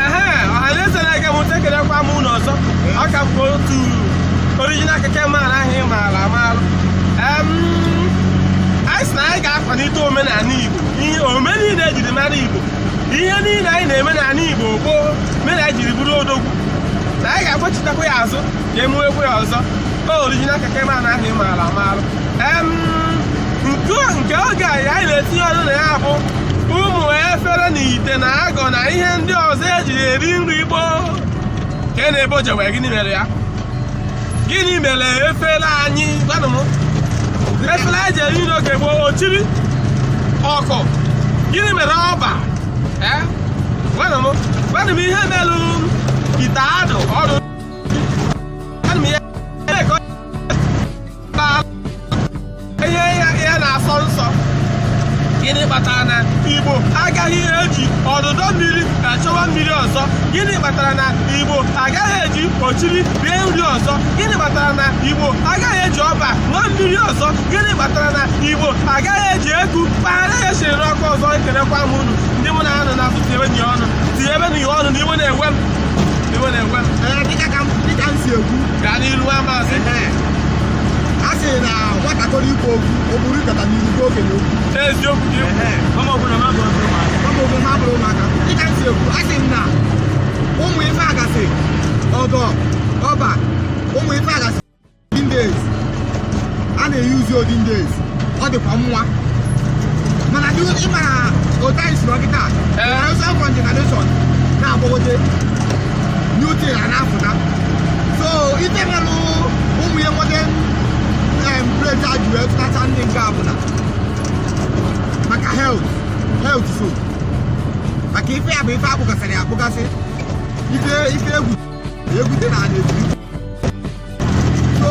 ehe ọhaneze na-ege m ntị ekelekwa m unu ọzọ aka m otu original keke maara ahụ ị maara amaara Em, anyị sị na anyị ga-akwalite omenala igbo ihe ome niile ejiri mara igbo ihe niile anyị na-eme n'ala igbo gboo mere anyị jiri bụrụ odogwu na anyị ga-agbachitakwa ya azụ ka e mewekwa ya ọzọ o original keke maara ahụ ị maara amaara Em, nke a- nke oge a anyị na-etinye ọnụ na ya bụ ụmụ efere na ite na agọ na ihe ndị ọzọ eji eri nri gboo kenụ ebe o jewe gịnị mere ya gịnị mere efere anyị gwanụ m efere anyị ji eri nri oge gboo ochiri ọkụ gịnị mere ọba Eh? gwanụ m gwanụ m ihe merụ ite adụ ọdụ ihe a na-asọ nsọ gịnị kpatara na igbo agaghị eji ọdụdọ mmiri achọwa mmiri ọzọ gịnị kpatara na igbo agaghị eji ochiri rie nri ọzọ gịnị kpatara na igbo agaghị eji ọba ṅụọ mmiri ọzọ gịnị kpatara na igbo agaghị eji eku kpagharịa ihe e siri n'ọkụ ọzọ ekelekwa m unu ndị mụ na ha nọ n'azụ tinyebenụ ọnụ tinyebenụ ọnụ na iwe na-ewe m iwe na-ewe m dịka m si ekwu gaa n'ilu amaazị a sị na nwatakịrị ikwu okwu ọ bụrụ ịkọta n'ihu ndị okenye okwu eziokwu gị mama ọbụla ma bụ ọbụla ma ọ bụ ha bụrụ ụmụaka dịka m si ekwu a sị m na ụmụ ife a gasị ọgọ ọba ụmụ ife a gasị olden days a na-eyuzi olden days ọ dịkwa mma mana dị ịmara otu anyị si nọ kịta Ee. ọsọ fọ generation na-agbagote new thing a na-apụta so ite melụ ụmụ ya nwoke em plate e ji wee tụtacha ndị nke a bụ na maka health health so maka ife a bụ ife a kpụgasịrị ya akpụgasị ife ife egwu egwute n'ana eji so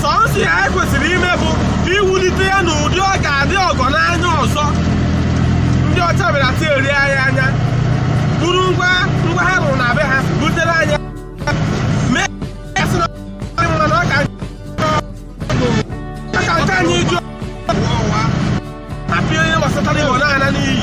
sọnsọ ihe anyị kwesịrị ime bụ iwulite ya n'ụdị ọ ga-adị ọgọ n'anya ọzọ ndị ọcha bịara tieri anyị anya buru ngwa ngwa ha rụrụ na be ha butere anyị mee ya sị na ọ dị mma na ọ ka ọ ka nke anyị jụọ apịa onye gbasatara igbo na-ana n'iyi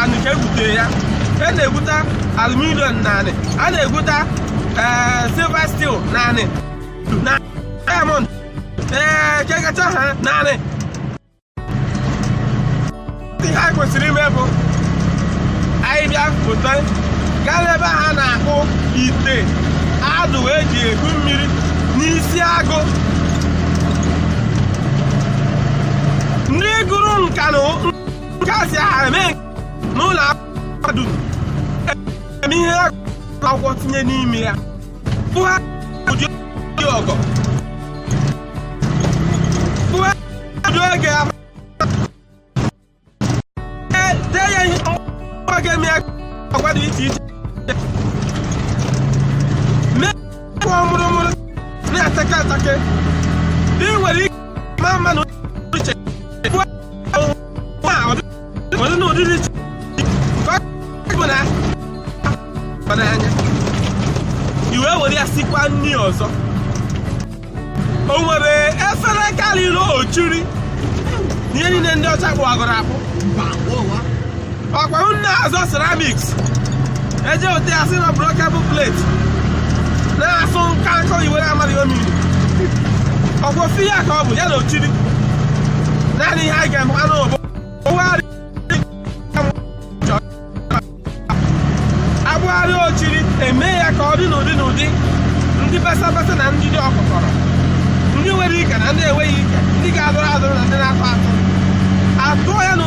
anị ka e gwutere ya a na-egwuta aluminium n'anị a na-egwuta ee, silver steel n'anị na diamond ee kekacha ha naanị ihe anyị kwesịrị ime bụ anyị bịa pụta gaa n'ebe ha na-akpụ ite adụ eji ebu mmiri n'Isiagụ ndị gụrụ nka na gaasị aha eme n'ụlọ mahadum eme ihe akwụkwọ tinye n'ime ya bụ ha ụdị ọgọ bụ ha ụdị oge ahụ dee ya ihe ọgwa ga-eme ya agwa dị iche iche mee kwa mụrụmụrụ na-atake atake dị nwere ike ma mmanụ i wee were ya sikwa nri ọzọ o nwere efere karịrị ochiri ihe niile ndị ọcha kpụ agụrụ akpụ ọkwa na-azọ ceramics eje ote asị na breakable plate na-asụ nka nkọ iwere amaghị omiri ọkwa ofu ihe ka ọ bụ ya na ochiri naanị ihe anyị ga-emenụ bụ a kpụgharịa ochiri eme ya ka ọ dị n'ụdị n'ụdị ndị basa basa na ndị dị ọkụkọrọ ndị nwere ike na ndị enweghị ike ndị ga-adọrọ adọrọ na ndị na-atọ atọ atụọ ya na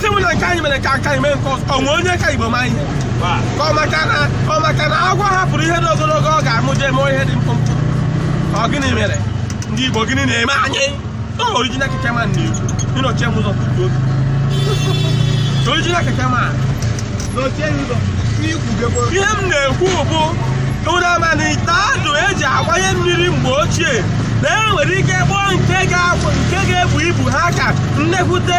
si m na nke anyị mere ka nke anyị mee nke ọzọ o nwe onye ka igbo ma ihe ka ọ maka na ọ maka na agwọ hapụrụ ihe dị ogologo ọ ga-amụ jee mụọ ihe dị mkpụmkpụ ọ gịnị mere ndị igbo gịnị na-eme anyị ọ original keke man na-ekwu ị nọchie m ụzọ tutu oge original keke man nọchie ya ụzọ n'ikwugekwa ihe m na-ekwu bụ unu ama na ite adụ eji agbanye mmiri mgbe ochie na e nwere ike kpụọ nke ga-abụ nke ga-ebu ibu ha ka nnekwute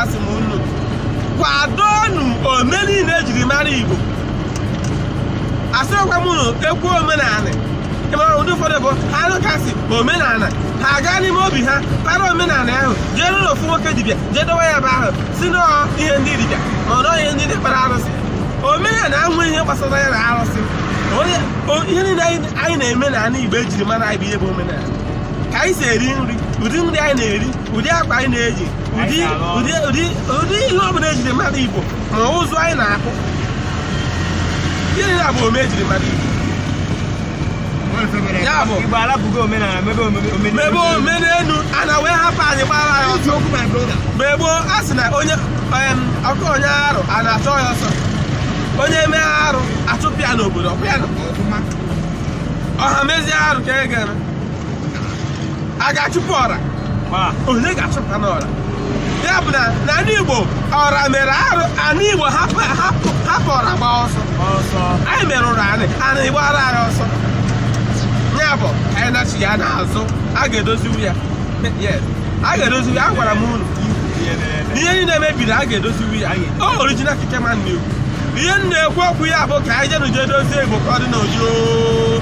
asị m unu kwadonu ome niile ejiri mara igbo asịrọkwa m unu e kwuo omenala ị mara ndị ụfọdụ bụ ha nụ ka a sị omenala ha aga n'ime obi ha para omenala ahụ jee n'ụlọ ofu nwoke dibịa jee dowe ya ebe ahụ sị na ọ ihe ndị dibịa ma ọ na ọ ihe ndị na-ekpere arụsị omenala enweghị ihe gbasara ya na arụsị Onye- o- ihe niile anyị anyị na-eme n'ala igbo ejiri mara anyị bụ ihe bụ omenala ka anyị si eri nri ụdị nri anyị na-eri ụdị akwa anyị na-eji ụdị ụdị ụdị ụdị ihe ọ bụla ejiri ma ndị Igbo ma ụzụ anyị na-akụ gịnị na bụ ome ejiri ma ndị Igbo Ya bụ. Igbo alapụgo omenala mebe omume omenala. mebe ome n'elu ana wee hapụ anyị gbara anyị ọsọ Eziokwu my brother. mgbe gboo a sị na onye em, ọkụ onye arụ a na-achụ ya ọsọ onye mee arụ achụpụ ya n'obodo ọkụ ya nọ. Ọfụma. ọha mezie arụ ka e ga-eme a ga-achụpụ ọra onye ga-achụpụnụ ọra ya bụ na n'ala Igbo ọra mere arụ ala Igbo hapụ ọra gba ọsọ anyị merụrụ anị anị gbara anyị ọsọ ya bụ anyị na-achụ ya n'azụ a ga-edoziwu ya a ga-edoziwu ya agwara m unu ihe niile mebiri a ga-edoziwu ya o original keke man na-ekwu ihe m na-ekwu okwu ya bụ ka anyị jenụ je dozie Igbo ka ọ dị n'ojo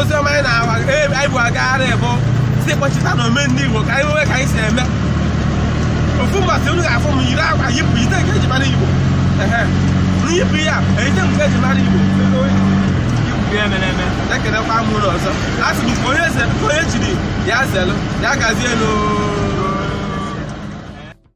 ozi ọma anyị nwa anyị bu agagharị bụ sị kpọchitanụ ome ndị Igbo ka anyị nwee ka anyị si eme ofu mbọsị unu ga-afụ m yiri akwa yipụ ite nke eji mara Igbo nyipụ ya ite nke eji mara Igbo ekelekwa m unu ọzọ a sị m onye jiri ya zelụ ya gazielụ